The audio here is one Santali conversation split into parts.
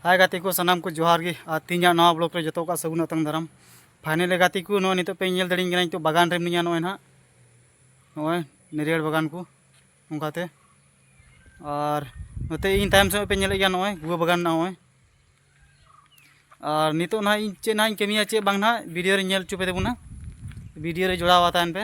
ᱦᱟᱭ ᱜᱟᱛᱮ ᱠᱚ ᱥᱟᱱᱟᱢ ᱠᱚ ᱡᱚᱦᱟᱨ ᱜᱮ ᱟᱨ ᱛᱤᱦᱤᱧᱟᱜ ᱱᱚᱣᱟ ᱵᱞᱚᱜ ᱨᱮ ᱡᱚᱛᱚ ᱠᱚᱣᱟᱜ ᱥᱟᱹᱜᱩᱱ ᱟᱛᱟᱝ ᱫᱟᱨᱟᱢ ᱯᱷᱟᱭᱱᱮᱞ ᱨᱮ ᱜᱟᱛᱮ ᱠᱚ ᱱᱚᱜᱼᱚᱭ ᱱᱤᱛᱚᱜ ᱯᱮ ᱧᱮᱞ ᱫᱟᱲᱮᱧ ᱠᱟᱱᱟ ᱱᱤᱛᱚᱜ ᱵᱟᱜᱟᱱ ᱨᱮ ᱢᱤᱱᱟᱹᱧᱟ ᱱᱚᱜᱼᱚᱭ ᱱᱟᱦᱟᱜ ᱱᱚᱜᱼᱚᱭ ᱱᱟᱹᱨᱤᱭᱟᱹᱲ ᱵᱟᱜᱟᱱ ᱠᱚ ᱚᱱᱠᱟᱛᱮ ᱟᱨ ᱱᱚᱛᱮ ᱤᱧ ᱛᱟᱭᱚᱢ ᱥᱮᱫ ᱯᱮ ᱧᱮᱞᱮᱫ ᱜᱮᱭᱟ ᱱᱚᱜᱼᱚᱭ ᱜᱩᱣᱟᱹ ᱵᱟᱜᱟᱱ ᱱᱚᱜᱼᱚᱭ ᱟᱨ ᱱᱤᱛᱚᱜ ᱱᱟᱦᱟᱜ ᱤᱧ ᱪᱮᱫ ᱱᱟᱦᱟᱜ ᱤᱧ ᱠᱟᱹᱢᱤᱭᱟ ᱪᱮᱫ ᱵᱟᱝ ᱱᱟᱦᱟᱜ ᱵᱷᱤᱰᱤᱭᱳ ᱨᱮ ᱧᱮᱞ ᱦᱚᱪᱚ ᱯᱮ ᱛᱟᱵᱚᱱᱟ ᱵᱷᱤᱰᱤᱭᱳ ᱨᱮ ᱡᱚᱲᱟᱣ ᱛᱟᱦᱮᱱ ᱯᱮ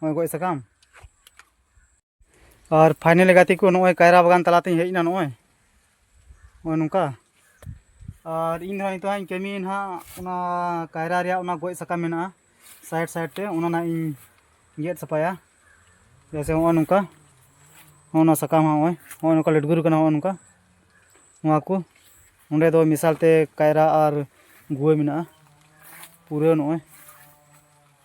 ᱱᱚᱜᱼᱚᱭ ᱜᱚᱡ ᱥᱟᱠᱟᱢ ᱟᱨ ᱯᱷᱟᱭᱱᱮᱞ ᱜᱟᱛᱮ ᱠᱚ ᱱᱚᱜᱼᱚᱭ ᱠᱟᱭᱨᱟ ᱵᱟᱜᱟᱱ ᱛᱟᱞᱟᱛᱮᱧ ᱦᱮᱡ ᱮᱱᱟ ᱱᱚᱜᱼᱚᱭ ᱱᱚᱜᱼᱚᱭ ᱱᱚᱝᱠᱟ ᱟᱨ ᱤᱧ ᱫᱚ ᱱᱤᱛᱚᱜ ᱤᱧ ᱠᱟᱹᱢᱤ ᱱᱟᱦᱟᱜ ᱚᱱᱟ ᱠᱟᱭᱨᱟ ᱨᱮᱭᱟᱜ ᱚᱱᱟ ᱜᱚᱡ ᱥᱟᱠᱟᱢ ᱢᱮᱱᱟᱜᱼᱟ ᱥᱟᱭᱤᱰ ᱥᱟᱭᱤᱰ ᱛᱮ ᱚᱱᱟ ᱱᱟᱦᱟᱜ ᱤᱧ ᱜᱮᱫ ᱥᱟᱯᱷᱟᱭᱟ ᱡᱮᱭᱥᱮ ᱱᱚᱜᱼᱚᱭ ᱱᱚᱝᱠᱟ ᱱᱚᱜᱼᱚ ᱱᱚᱣᱟ ᱥᱟᱠᱟᱢ ᱱᱚᱜᱼᱚᱭ ᱱᱚᱜᱼᱚᱭ ᱱᱚᱝᱠᱟ ᱞᱮᱴᱜᱩᱨ ᱠᱟᱱᱟ ᱱᱚᱜᱼᱚᱭ ᱱᱚᱝᱠᱟ ᱱᱚᱣᱟ ᱠᱚ ᱚᱸᱰᱮ ᱫᱚ ᱢᱮᱥᱟᱞ ᱛᱮ ᱠᱟᱭᱨᱟ ᱟᱨ ᱜᱩᱣᱟᱹ ᱢᱮᱱᱟᱜᱼᱟ ᱯᱩᱨᱟᱹ ᱱᱚᱜᱼᱚᱭ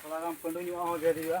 ᱛᱷᱚᱲᱟ ᱜᱟᱱ ᱯᱟᱺᱰᱩ ᱧᱚᱜ ᱦᱚᱸ ᱜᱮᱫ ᱦᱩᱭᱩᱜᱼᱟ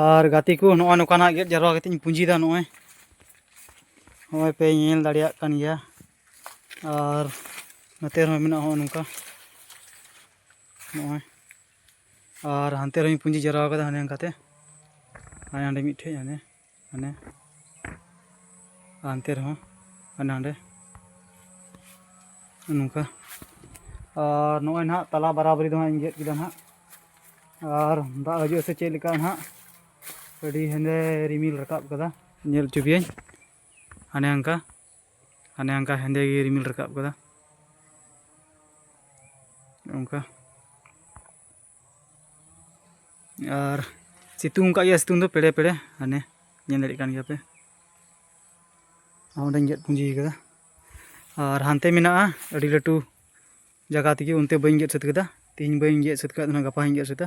ᱟᱨ ᱜᱟᱛᱮ ᱠᱚ ᱱᱚᱜᱼᱚᱭ ᱱᱚᱝᱠᱟᱱᱟᱜ ᱜᱮᱫ ᱡᱟᱨᱣᱟ ᱠᱟᱛᱮ ᱤᱧ ᱯᱩᱸᱡᱤᱭᱮᱫᱟ ᱱᱚᱜᱼᱚᱭ ᱱᱚᱜᱼᱚᱭ ᱯᱮ ᱧᱮᱞ ᱫᱟᱲᱮᱭᱟᱜ ᱠᱟᱱ ᱜᱮᱭᱟ ᱟᱨ ᱱᱚᱛᱮ ᱨᱮᱦᱚᱸ ᱢᱮᱱᱟᱜᱼᱟ ᱱᱚᱜᱼᱚ ᱱᱚᱝᱠᱟ ᱱᱚᱜᱼᱚᱭ ᱟᱨ ᱦᱟᱱᱛᱮ ᱨᱮᱦᱚᱸᱧ ᱯᱩᱸᱡᱤ ᱡᱟᱣᱨᱟ ᱟᱠᱟᱫᱟ ᱦᱟᱱᱮ ᱚᱱᱠᱟᱛᱮ ᱦᱟᱱᱮ ᱦᱟᱸᱰᱮ ᱢᱤᱫᱴᱷᱮᱡ ᱦᱟᱱᱮ ᱦᱟᱱᱮ ᱦᱟᱱᱛᱮ ᱨᱮᱦᱚᱸ ᱦᱟᱱᱮ ᱦᱟᱸᱰᱮ ᱱᱚᱝᱠᱟ ᱟᱨ ᱱᱚᱜᱼᱚᱭ ᱱᱟᱦᱟᱜ ᱛᱟᱞᱟ ᱵᱟᱨᱟᱵᱟᱨᱤ ᱫᱚ ᱦᱟᱸᱜ ᱤᱧ ᱜᱮᱫ ᱠᱮᱫᱟ ᱱᱟᱦᱟᱜ ᱟᱨ ᱫᱟᱜ ᱦᱤᱡᱩᱜ ᱥᱮ ᱪᱮᱫ ᱞᱮᱠᱟ ᱱᱟᱦᱟᱜ ᱟᱹᱰᱤ ᱦᱮᱸᱫᱮ ᱨᱤᱢᱤᱞ ᱨᱟᱠᱟᱵ ᱠᱟᱫᱟ ᱧᱮᱞ ᱦᱚᱪᱚ ᱯᱮᱭᱟᱹᱧ ᱦᱟᱱᱮ ᱦᱟᱱᱠᱟ ᱦᱟᱱᱮ ᱦᱟᱝᱠᱟ ᱦᱮᱸᱫᱮ ᱜᱮ ᱨᱤᱢᱤᱞ ᱨᱟᱠᱟᱵ ᱠᱟᱫᱟ ᱚᱱᱠᱟ ᱟᱨ ᱥᱤᱛᱩᱝ ᱠᱟᱜ ᱜᱮᱭᱟ ᱥᱤᱛᱩᱝ ᱫᱚ ᱯᱮᱲᱮ ᱯᱮᱲᱮ ᱦᱟᱱᱮ ᱧᱮᱞ ᱫᱟᱲᱮᱭᱟᱜ ᱠᱟᱱ ᱜᱮᱭᱟᱯᱮ ᱚᱸᱰᱮᱧ ᱜᱮᱫ ᱯᱩᱸᱡᱤ ᱠᱟᱫᱟ ᱟᱨ ᱦᱟᱱᱛᱮ ᱢᱮᱱᱟᱜᱼᱟ ᱟᱹᱰᱤ ᱞᱟᱹᱴᱩ ᱡᱟᱭᱜᱟ ᱛᱮᱜᱮ ᱚᱱᱛᱮ ᱵᱟᱹᱧ ᱜᱮᱫ ᱥᱟᱹᱛ ᱠᱟᱫᱟ ᱛᱮᱦᱮᱧ ᱵᱟᱹᱧ ᱜᱮᱫ ᱥᱟᱹᱛ ᱠᱟᱫᱟ ᱜᱟᱯᱟ ᱦᱚᱸᱧ ᱜᱮᱫ ᱥᱟᱹᱛᱟ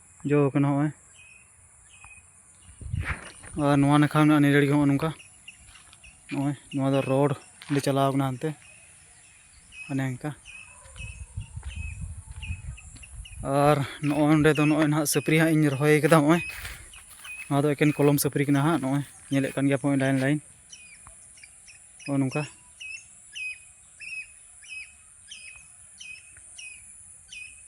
ᱡᱚ ᱟᱠᱟᱱᱟ ᱱᱚᱜᱼᱚᱭ ᱟᱨ ᱱᱚᱣᱟ ᱱᱟᱠᱷᱟ ᱢᱮᱱᱟᱜᱼᱟ ᱱᱤᱨᱟᱹᱲ ᱜᱮ ᱱᱚᱜᱼᱚ ᱱᱚᱝᱠᱟ ᱱᱚᱜᱼᱚᱭ ᱱᱚᱣᱟ ᱫᱚ ᱨᱳᱰ ᱞᱮ ᱪᱟᱞᱟᱣ ᱠᱟᱱᱟ ᱦᱟᱱᱛᱮ ᱚᱱᱮ ᱚᱱᱠᱟ ᱟᱨ ᱱᱚᱜᱼᱚᱭ ᱱᱚᱸᱰᱮ ᱫᱚ ᱱᱚᱜᱼᱚᱭ ᱱᱟᱦᱟᱜ ᱥᱟᱹᱯᱨᱤ ᱦᱟᱸᱜ ᱤᱧ ᱨᱚᱦᱚᱭ ᱠᱟᱫᱟ ᱱᱚᱜᱼᱚᱭ ᱱᱚᱣᱟ ᱫᱚ ᱮᱠᱮᱱ ᱠᱚᱞᱚᱢ ᱥᱟᱹᱯᱨᱤ ᱠᱟᱱᱟ ᱦᱟᱸᱜ ᱱᱚᱜᱼᱚᱭ ᱧᱮᱞᱮᱫ ᱠᱟᱱ ᱜᱮᱭᱟ ᱯᱮ ᱞᱟᱭᱤᱱ ᱞᱟᱭᱤᱱ ᱱᱚᱜᱼᱚ ᱱᱚᱝᱠᱟ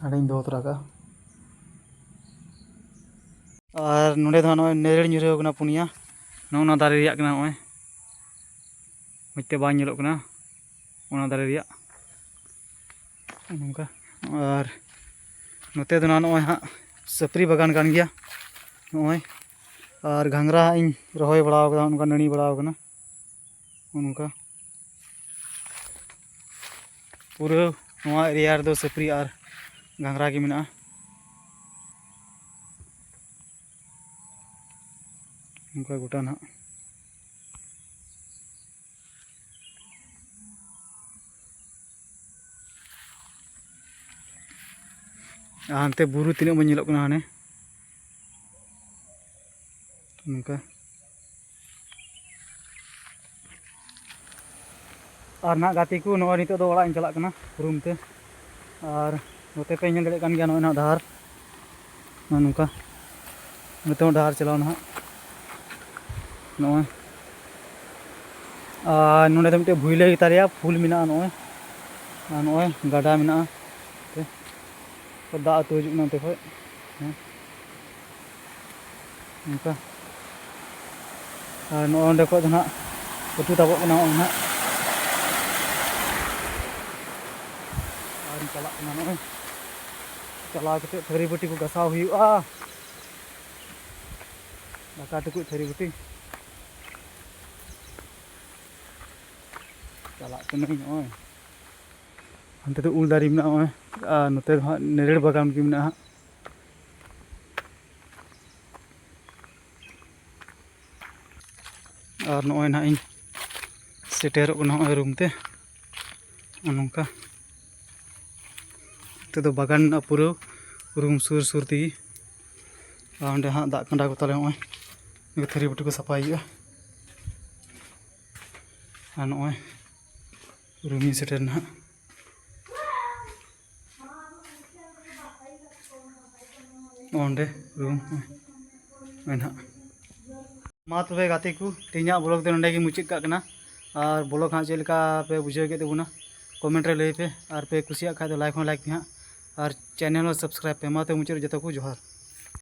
ᱦᱟᱺᱰᱤᱧ ᱫᱚᱦᱚ ᱛᱚᱨᱟ ᱠᱟᱜᱼᱟ ᱟᱨ ᱱᱚᱸᱰᱮ ᱫᱚ ᱱᱚᱜᱼᱚᱭ ᱱᱮᱨᱮᱲ ᱧᱩᱨᱦᱟᱹᱣ ᱠᱟᱱᱟ ᱯᱩᱱᱭᱟ ᱱᱚᱜᱼᱚ ᱱᱚᱣᱟ ᱫᱟᱨᱮ ᱨᱮᱭᱟᱜ ᱠᱟᱱᱟ ᱱᱚᱜᱼᱚᱭ ᱢᱚᱡᱽ ᱛᱮ ᱵᱟᱝ ᱧᱮᱞᱚᱜ ᱠᱟᱱᱟ ᱚᱱᱟ ᱫᱟᱨᱮ ᱨᱮᱭᱟᱜ ᱱᱚᱝᱠᱟ ᱟᱨ ᱱᱚᱛᱮ ᱫᱚ ᱱᱚᱜᱼᱚᱭ ᱦᱟᱸᱜ ᱥᱟᱹᱯᱨᱤ ᱵᱟᱜᱟᱱ ᱠᱟᱱ ᱜᱮᱭᱟ ᱱᱚᱜᱼᱚᱭ ᱟᱨ ᱜᱷᱟᱸᱜᱽᱨᱟ ᱦᱟᱸᱜ ᱤᱧ ᱨᱚᱦᱚᱭ ᱵᱟᱲᱟᱣ ᱠᱟᱫᱟ ᱚᱱᱠᱟ ᱱᱟᱹᱲᱤ ᱵᱟᱲᱟᱣ ᱠᱟᱱᱟ ᱚᱱᱠᱟ ᱯᱩᱨᱟᱹ ᱱᱚᱣᱟ ᱮᱨᱤᱭᱟ ᱨᱮᱫᱚ ᱥᱟᱹᱯᱨᱤ ᱟᱨ ᱜᱷᱟᱸᱜᱽᱨᱟ ᱜᱮ ᱢᱮᱱᱟᱜᱼᱟ ᱚᱱᱠᱟ ᱜᱚᱴᱟ ᱱᱟᱦᱟᱜ ᱟᱨ ᱦᱟᱱᱛᱮ ᱵᱩᱨᱩ ᱛᱤᱱᱟᱹᱜ ᱢᱚᱡᱽ ᱧᱮᱞᱚᱜ ᱠᱟᱱᱟ ᱦᱟᱱᱮ ᱱᱚᱝᱠᱟ ᱟᱨ ᱱᱟᱦᱟᱜ ᱜᱟᱛᱮ ᱠᱚ ᱱᱚᱜᱼᱚᱭ ᱱᱤᱛᱚᱜ ᱫᱚ ᱚᱲᱟᱜ ᱤᱧ ᱪᱟᱞᱟᱜ ᱠᱟᱱᱟ ᱨᱩᱢ ᱛᱮ ᱟᱨ ᱱᱚᱛᱮ ᱯᱮ ᱧᱮᱞ ᱫᱟᱲᱮᱭᱟᱜ ᱠᱟᱱ ᱜᱮᱭᱟ ᱱᱚᱜᱼᱚᱭ ᱱᱟᱦᱟᱜ ᱰᱟᱦᱟᱨ ᱱᱚᱜᱼᱚ ᱱᱚᱝᱠᱟ ᱱᱚᱛᱮ ᱦᱚᱸ ᱰᱟᱦᱟᱨ ᱪᱟᱞᱟᱣ ᱱᱟᱦᱟᱜ ᱱᱚᱜᱼᱚᱭ ᱟᱨ ᱱᱚᱰᱮ ᱫᱚ ᱢᱤᱫᱴᱮᱡ ᱵᱷᱩᱭᱞᱟᱹ ᱜᱮᱛᱟ ᱞᱮᱭᱟ ᱯᱷᱩᱞ ᱢᱮᱱᱟᱜᱼᱟ ᱱᱚᱜᱼᱚᱭ ᱟᱨ ᱱᱚᱜᱼᱚᱭ ᱜᱟᱰᱟ ᱢᱮᱱᱟᱜᱼᱟ ᱫᱟᱜ ᱟᱹᱛᱩ ᱦᱤᱡᱩᱜ ᱠᱟᱱᱟ ᱱᱚᱛᱮ ᱠᱷᱚᱡ ᱦᱮᱸ ᱚᱱᱠᱟ ᱟᱨ ᱱᱚᱜᱼᱚ ᱱᱚᱸᱰᱮ ᱠᱷᱚᱡ ᱫᱚ ᱱᱟᱦᱟᱜ ᱩᱛᱩ ᱛᱟᱵᱚᱜ ᱠᱟᱱᱟ ᱱᱚᱜᱼᱚᱭ ᱱᱟᱦᱟᱜ ᱟᱨᱤᱧ ᱪᱟᱞᱟᱜ ᱠᱟᱱᱟ ᱱᱚᱜᱼᱚᱭ ᱪᱟᱞᱟᱣ ᱠᱟᱛᱮᱫ ᱛᱷᱟᱹᱨᱤ ᱵᱟᱹᱴᱤ ᱠᱚ ᱜᱟᱥᱟᱣ ᱦᱩᱭᱩᱜᱼᱟ ᱫᱟᱠᱟ ᱴᱩᱠᱩᱡ ᱛᱷᱟᱹᱨᱤ ᱵᱟᱹᱴᱤ ᱪᱟᱞᱟᱜ ᱠᱟᱹᱱᱟᱹᱧ ᱱᱚᱜᱼᱚᱭ ᱚᱱᱛᱮ ᱫᱚ ᱩᱞ ᱫᱟᱨᱮ ᱢᱮᱱᱟᱜᱼᱟ ᱱᱚᱜᱼᱚᱭ ᱟᱨ ᱱᱚᱛᱮ ᱫᱚ ᱦᱟᱸᱜ ᱱᱮᱨᱮᱲ ᱵᱟᱜᱟᱱ ᱜᱮ ᱢᱮᱱᱟᱜᱼᱟ ᱟᱨ ᱱᱚᱜᱼᱚᱭ ᱱᱟᱦᱟᱜ ᱤᱧ ᱥᱮᱴᱮᱨᱚᱜ ᱠᱟᱱᱟ ᱱᱚᱜᱼᱚᱭ ᱨᱩᱢ ᱛᱮ ᱱᱚᱝᱠᱟ ᱱᱚᱛᱮ ᱫᱚ ᱵᱟᱜᱟᱱ ᱢᱮᱱᱟᱜᱼᱟ ᱯᱩᱨᱟᱹ ᱨᱩᱢ ᱥᱩᱨ ᱥᱩᱨ ᱛᱮᱜᱮ ᱟᱨ ᱚᱸᱰᱮ ᱦᱟᱸᱜ ᱫᱟᱜ ᱠᱟᱸᱰᱟ ᱠᱚ ᱛᱟᱞᱮ ᱱᱚᱜᱼᱚᱭ ᱛᱷᱟᱹᱨᱤ ᱵᱟᱹᱴᱤ ᱠᱚ ᱥᱟᱯᱷᱟᱭ ᱦᱩᱭᱩᱜᱼᱟ ᱟᱨ ᱱᱚᱜᱼᱚᱭ ᱨᱩᱢᱤᱧ ᱥᱮᱴᱮᱨ ᱱᱟᱦᱟᱜ ᱚᱸᱰᱮ ᱨᱩᱢ ᱱᱚᱜᱼᱚᱭ ᱱᱟᱦᱟᱜ ᱢᱟ ᱛᱚᱵᱮ ᱜᱟᱛᱮ ᱠᱚ ᱛᱮᱦᱮᱧᱟᱜ ᱵᱞᱚᱜ ᱫᱚ ᱱᱚᱸᱰᱮ ᱜᱮ ᱢᱩᱪᱟᱹᱫ ᱠᱟᱜ ᱠᱟᱱᱟ ᱟᱨ ᱵᱞᱚᱜ ᱦᱟᱸᱜ ᱪᱮᱫ ᱞᱮᱠᱟ ᱯᱮ ᱵᱩᱡᱷᱟᱹᱣ ᱠᱮᱫ ᱛᱟᱵᱚᱱᱟ ᱠᱚᱢᱮᱱᱴ ᱨᱮ ᱞᱟᱹᱭ ᱯᱮ ᱟᱨ ᱯᱮ ᱠᱩᱥᱤᱭᱟᱜ ᱠᱷᱟᱡ ᱫᱚ ᱞᱟᱭᱤᱠ ᱦᱚᱸ ᱞᱟᱭᱤᱠ ᱯᱮ ᱦᱟᱸᱜ ᱟᱨ ᱪᱮᱱᱮᱞ ᱦᱚᱸ ᱥᱟᱵᱥᱠᱨᱟᱭᱤᱵᱽ ᱯᱮ ᱢᱟ ᱛᱚᱵᱮ ᱢᱩᱪᱟᱹᱫ ᱨᱮ ᱡᱚᱛᱚ ᱠᱚ ᱡᱚᱦᱟᱨ